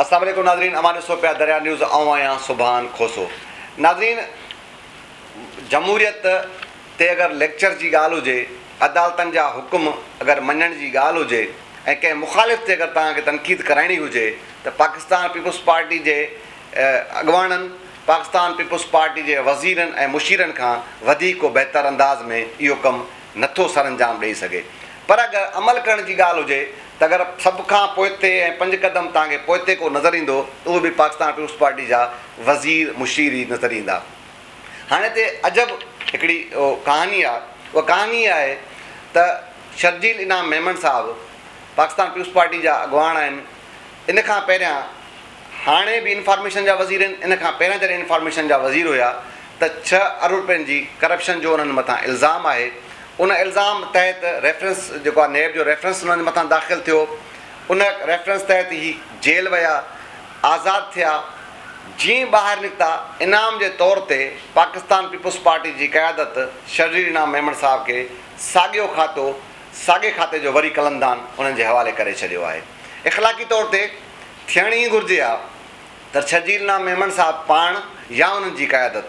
السلام عليڪم ناظرين اوهان ڏسو پيا دريا نيوز آئون آهيان سبحان کوسو ناظرين جمهوريت تي اگر ليڪچر جي ڳالهه هجي عدالتن جا حڪم اگر مڃڻ جي ڳالهه هجي ۽ ڪنهن مخالف تي اگر توهان کي تنقيد ڪرائڻي هجي ته پاڪستان پيپلز پارٽي جي اڳواڻن پاڪستان پيپلز پارٽي جي وزيرن ۽ مشيرن کان وڌيڪ ڪو بهتر انداز ۾ اهو ڪم نه ٿو سرانجام ڏئي سگهي پر اگر عمل ڪرڻ جي ڳالهه هجي ته اگر سڀ کان پوئتي ۽ پنج قدم توهان کي پوئتي ڪو نظر ايندو ته اهي به پاڪستان پيپلز پارٽي جا وزير مشير ئي نظر ايندا هاڻي هتي عجب هڪڙي ڪهاڻي آهي اها ڪهاڻي اها آهي ته شرجيل انعام ميمڻ صاحب پاڪستان پيپلز پارٽي جا اڳواڻ آهن ان کان پهريان هاڻي به انفارميشن جا وزير آهن، ان کان پهريان جڏهن انفارميشن جا وزير هيا ته ڇهه ارب رپين جي ڪرپشن جو انهن مٿان الزام آهي، ان الزام تحت ريفرنس جيڪو آهي نيب جو ريفرنس انهن مٿان داخل ٿيو، ان ريفرنس تحت هي جيل ويا، آزاد ٿيا، جيئن ٻاهر نڪتا انعام جي طور تي پاڪستان پيپلز پارٽي جي قيادت شرجيل انعام ميمڻ صاحب کي ساڳيو کاتو ساڳئي کاتي جو وري قلمدان انهن جي حوالي ڪري ڇڏيو آهي. اخلاقي طور تي ٿيڻ ئي گهرجي ها ته شرجيل نام ميمڻ صاحب پاڻ يا انهن جي قيادت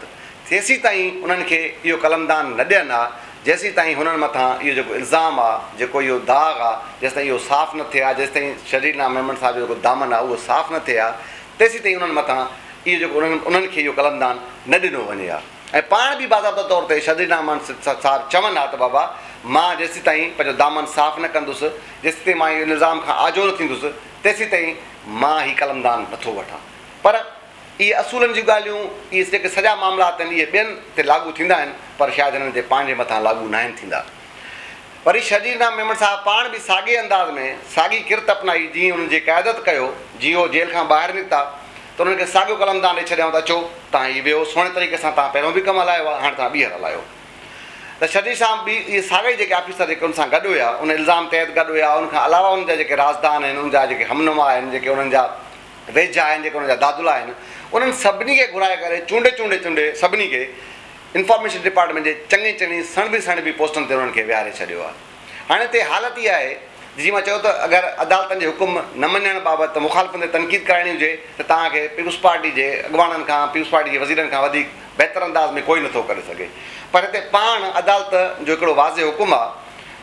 تيسيتائين انهن کي اهو قلمدان نه ڏين ها جيسيتائين هنن مٿان اهو جيڪو الزام آ جيڪو اهو داغ آ جيستائين اهو صاف نه ٿئي ها جيستائين شرجيل نام ميمڻ صاحب جو جيڪو دامن آ اهو صاف نه ٿئي ها تيسيتائين انهن مٿان اهو جيڪو انهن کي اهو قلمدان نه ڏنو وڃي ها. ۽ پاڻ به باضابطه طور تي شديد امان صاحب چون ها ته بابا مان جيسيتائين پنهنجو دامن صاف نه ڪندس، جيسيتائين مان ان الزام کان آجو نه ٿيندس، تيسيتائين مان هي قلمدان نٿو وٺان. پر اهي اصولن جون ڳالهيون، اهي جيڪي سڄا معاملا اٿن، اهي ٻين تي لاڳو ٿيندا آهن، پر شايد هنن تي پنهنجي مٿان لاڳو ناهن ٿيندا. وري شرجيل رام ميمڻ صاحب پاڻ به ساڳئي انداز ۾، ساڳي ڪرت اپنائي، جيئن هنن جي قيادت ڪيو، جيئن هو جيل کان ٻاهر نڪتا، ته انهن کي ساڳيو قلم تان ڏئي ڇڏيائون ته اچو تهان هي ويهو سهڻي طريقي سان تهان پهريون به ڪم هلايو آهي هاڻي تهان ٻيهر هلايو ته شرجيت صاحب به اهي ساڳئي جيڪي آفيسر جيڪي ان سان گڏ هيا ان الزام تحت گڏ هيا ان کان علاوه ان جا جيڪي رازدان آهن ان جا جيڪي همنوا آهن جيڪي انهن جا ويجها آهن جيڪي انهن جا دادلا آهن انهن سڀني کي گهرائي ڪري چونڊي چونڊي چونڊي سڀني کي انفارميشن ڊپارٽمينٽ جي چڱي چڱي سڻڀي سڻڀي پوسٽن تي انهن کي ويهاري ڇڏيو آهي. هاڻي هتي حالت اها آهي ته جيئن مان چيو ته اگر عدالتن جي حڪم نه مڃڻ بابت مخالفن تي تنقيد ڪرائڻي هجي ته توهان کي پيپلز پارٽي جي اڳواڻن کان پيپلز پارٽي جي وزيرن کان وڌيڪ بهتر انداز ۾ ڪوئي نه ٿو ڪري سگهي پر هتي پاڻ عدالت جو هڪڙو واضح حڪم آهي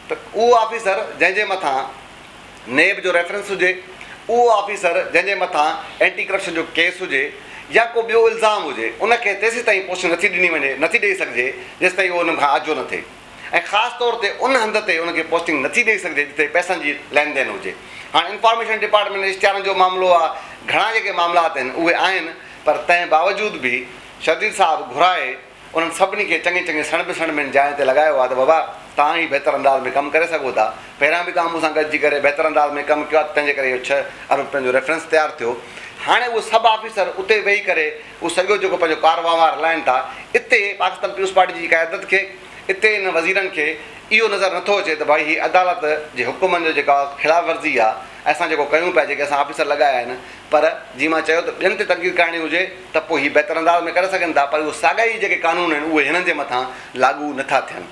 ته اهو آفيسر جنهن جي مٿان نيب جو ريفرنس هجي اهو آفيسر جنهن جي مٿان اينٽي ڪرپشن جو ڪيس هجي يا ڪو ٻيو الزام هجي ان کي تيسيتائين پوسٽنگ نٿي ڏني وڃي نٿي ڏئي سگهجي جيسيتائين اهو انهن کان آجو نه ٿئي ۽ خاص طور تي ان هنڌ تي ان کي پوسٽنگ نٿي ڏئي سگهجي جتي پئسن جي لين دين هجي. هاڻ انفارميشن ڊپارٽمينٽ اشتهارن جو معاملو آ، گهڻا جيڪي معاملا آتن اهي آهن پر تنهن باوجود به شرجيل صاحب گهرائي انهن سڀني کي چڱي چڱي سڻڀ سڻڀين جاين تي لڳايو آ ته بابا توهان ئي بهتر انداز ۾ ڪم ڪري سگهو ٿا، پهريان به توهان مون سان گڏجي ڪري بهتر انداز ۾ ڪم ڪيو آ ته تنهن جي ڪري اهو ڇهه ارب پنهنجو ريفرنس تيار ٿيو. هاڻي اهي سڀ آفيسر اتي ويهي ڪري اهو سڄو جيڪو پنهنجو ڪار وهنوار هلائين ٿا، اتي پاڪستان پيپلز پارٽي جي قيادت کي، اتي انهن وزيرن کي اهو نظر نٿو اچي ته ڀائي هي عدالت جي حڪمن جو جيڪا خلاف ورزي آهي ۽ اسان جيڪو ڪيون پيا، جيڪي اسان آفيسر لڳايا آهن پر جيئن مان چيو ته ٻين تي تنقيد ڪرائڻي هجي ته پوء هي بهتر انداز ۾ ڪري سگهن ٿا پر اهو ساڳيا ئي جيڪي قانون آهن اهي هنن جي مٿان لاڳو نٿا ٿين.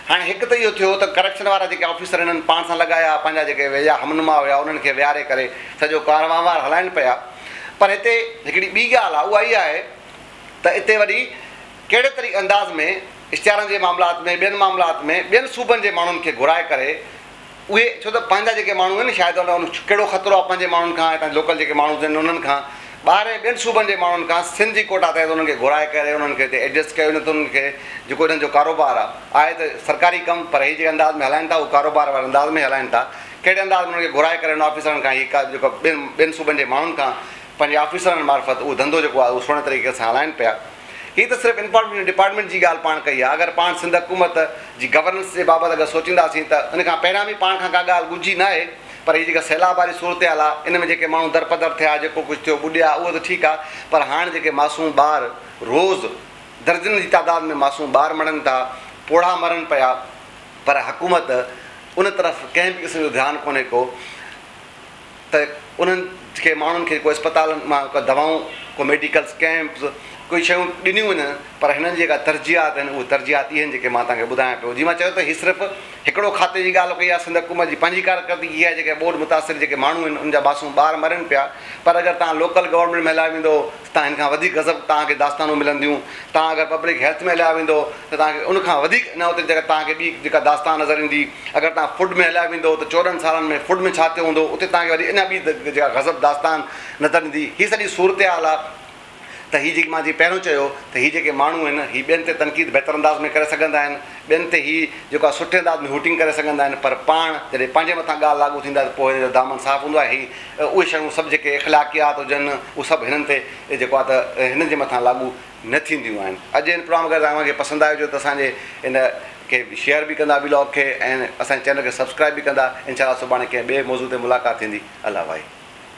هاڻي هڪ ته اهو ٿيو ته ڪرپشن وارا جيڪي آفيسر هنن پاڻ سان لڳايا، پنهنجا جيڪي ويجها همنما هيا انهن کي ويهاري ڪري سڄو ڪار وهنوار هلائين پيا. پر هتي هڪڙي ٻي ڳالهه آهي اها اها آهي ته اتي وري ڪهڙي طريقي انداز ۾ اشتهارن جي معاملات ۾ ٻين معاملات ۾ ٻين صوبن جي ماڻهن کي گهرائي ڪري، اهي ڇو ته پنهنجا جيڪي ماڻهو آهن شايد ان ڪهڙو خطرو آهي پنهنجي ماڻهن کان هتان لوڪل جيڪي ماڻهو آهن انهن کان ٻاهر ۽ ٻين صوبن جي ماڻهن کان سنڌ جي ڪوٽا تحت انهن کي گهرائي ڪري انهن کي هتي ايڊجسٽ ڪيو وڃي ٿو انهن کي جيڪو انهن جو ڪاروبار آهي آهي ته سرڪاري ڪم پر هي جيڪي انداز ۾ هلائن ٿا اهو ڪاروبار واري انداز ۾ هلائن ٿا ڪهڙي انداز ۾ انهن کي گهرائي ڪري انهن آفيسرن کان هي ڪا جيڪو ٻين ٻين صوبن جي ماڻهن کان پنهنجي آفيسرن معرفت اهو ڌنڌو جيڪو آهي اهو سهڻي طريقي سان هلائين پيا. هي ته صرف انفارميشن ڊپارٽمينٽ جي ڳالهه پاڻ ڪئي آهي. اگر پاڻ سنڌ حڪومت جي گورننس جي بابت اگر سوچينداسين ته ان کان پهريان به پاڻ کان ڪا ڳالهه ڳجهي ناهي پر هي جيڪا سيلاب واري صورتحال آهي ان ۾ جيڪي ماڻهو درپدر ٿيا جيڪو ڪجهه ٿيو ٻڏيا اهو ته ٺيڪ آهي پر هاڻ جيڪي معصوم ٻار روز درجنن جي تعداد ۾ معصوم ٻار مڙن ٿا پوڙها مرن پيا پر حڪومت ان طرف ڪنهن به قسم جو ڌيان ڪونهي ڪو ته انهن کي ماڻهن کي ڪو اسپتالن مان ڪا دوائون، ڪو ميڊيڪلز ڪئمپز، ڪوئي شيون ڏنيون وڃن پر هنن جي جيڪا ترجيحات آهن اهي ترجيحات اهي آهن جيڪي مان توهان کي ٻڌايان پيو جي مان چيو ته هي صرف هڪڙو کاتي جي ڳالهه ڪئي آهي سنڌ حڪومت جي پنهنجي ڪارڪردگي آهي جيڪا ٻوڏ متاثر جيڪي ماڻهو آهن ان جا باسون ٻار مرن پيا پر اگر توهان لوڪل گورنمينٽ ۾ هليا ويندو تان هن کان وڌيڪ غضب توهان کي داستانون ملنديون. توهان اگر پبلڪ هيلٿ ۾ هليا ويندو ته توهان کي ان کان وڌيڪ ان اوتري جڳهه توهان کي ٻي جيڪا داستان نظر ايندي. اگر توهان فوڊ ۾ هليا ويندو ته چوڏهن سالن ۾ فوڊ ۾ ڇا ٿيو هوندو اتي توهان کي وري اڃا ٻي جيڪا غضب داستان نظر ايندي. هي سڄي صورتحال آ ته هي جيڪي مان جي پهريون چيو ته هي جيڪي ماڻهو آهن هي ٻين تي تنقيد بهتر انداز ۾ ڪري سگهندا آهن ٻين تي هي جيڪو آهي سٺي انداز ۾ هوٽنگ ڪري سگهندا آهن پر پاڻ جڏهن پنهنجي مٿان ڳالهه لاڳو ٿيندي آهي ته پوء هن جو دامن صاف هوندو آهي. هي اهي شيون سڀ جيڪي اخلاقيات هجن اهو سڀ هنن تي جيڪو آهي ته هنن جي مٿان لاڳو نه ٿينديون آهن. اڄ جو هن پروگرام اگر توهان کي پسند آيو هجي ته اسان جي هن کي شيئر به ڪندا ويلاگ کي ۽ اسان جي چينل کي سبسڪرائب به ڪندا. انشاء الله سڀاڻي ڪنهن ٻئي موضوع تي ملاقات ٿيندي. الله وائي.